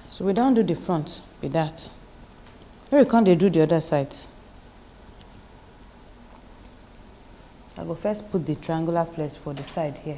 so we don do the front be that make we come dey do the other side i go first put the triangular flex for the side here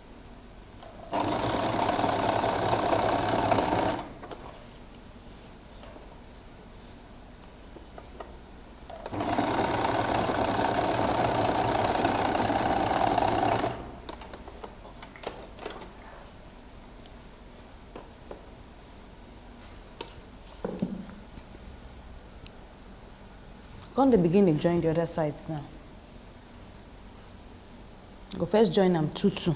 Come dey begin dey join the other sides now. I go first join am two two.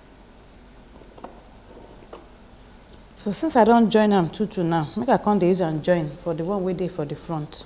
so since i don join am two two now make i come dey use am join for the one wey dey for the front